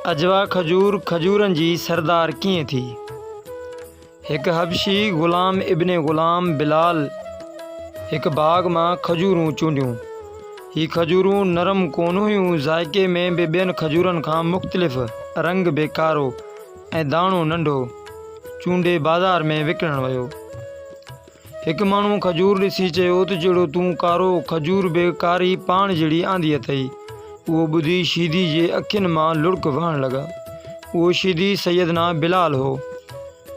اجوا کجور کجورن جي سردار ڪيئن ٿي؟ هڪ حبشي غلام ابن غلام بلال هڪ باغ مان کجورون چونڊيون. هي کجورون نرم ڪونه هيون، ذائقي ۾ به ٻين کجورن کان مختلف، رنگ به ڪارو ۽ داڻو ننڍو. چونڊي بازار ۾ وڪڻڻ ويو. هڪ ماڻهوء کجور ڏسي چيو ته جهڙو تون ڪارو کجور به ڪاري پاڻ جهڙي آندي اٿئي. اهو ٻڌي شيدي جي اکين مان لڙڪ وهڻ لڳا. اهو شيدي سيدنا بلال هو.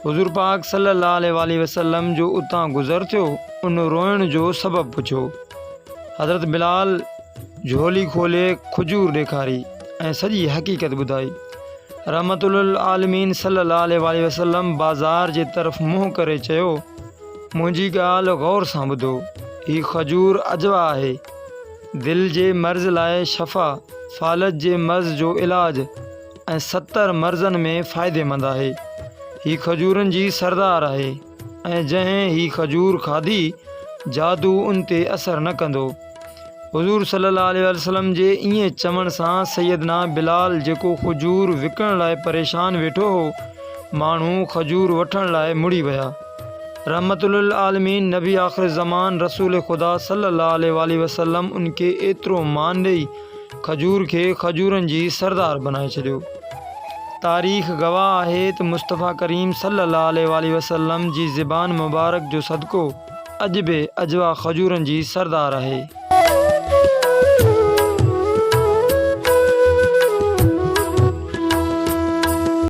حضور پاڪ صلي الله عليه واٰله وسلم جو اتان گذر ٿيو، ان روئڻ جو سبب پڇيو. حضرت بلال جهولي کولي کجور ڏيکاري ۽ سڄي حقيقت ٻڌائي. رحمت للعالمين صلّي اللّٰه عليه واٰله وسلّم بازار جي طرف منهن ڪري چيو، منهنجي ڳالهه غور سان ٻڌو، هي کجور اجوا آهي، دل جي مرض لاء شفا، فالج جي مرض جو علاج ۽ ستر مرضن ۾ فائديمند آهي. هي کجورن جي سردار آهي. ۽ جنهن هي کجور کاڌي جادو ان تي اثر نه ڪندو. حضور صلي الله عليه واٰله وسلم جي ائين چوڻ سان سيدنا بلال جيڪو کجور وڪڻڻ لاء پريشان ويٺو هو، ماڻهو کجور وٺڻ لاء مڙي ويا. رحمة للعالمين نبي آخرالزمان رسول خدا صلي الله عليه واٰله وسلم ان کي ايترو مان ڏئي، کجور کي کجورن جي سردار بنائي ڇڏيو. تاريخ گواهه آهي ته مصطفيٰ ڪريم صلّي اللّٰه عليه واٰله وسلّم جي زبان مبارڪ جو صدقو اڄ به اجوا کجورن جي سردار آهي.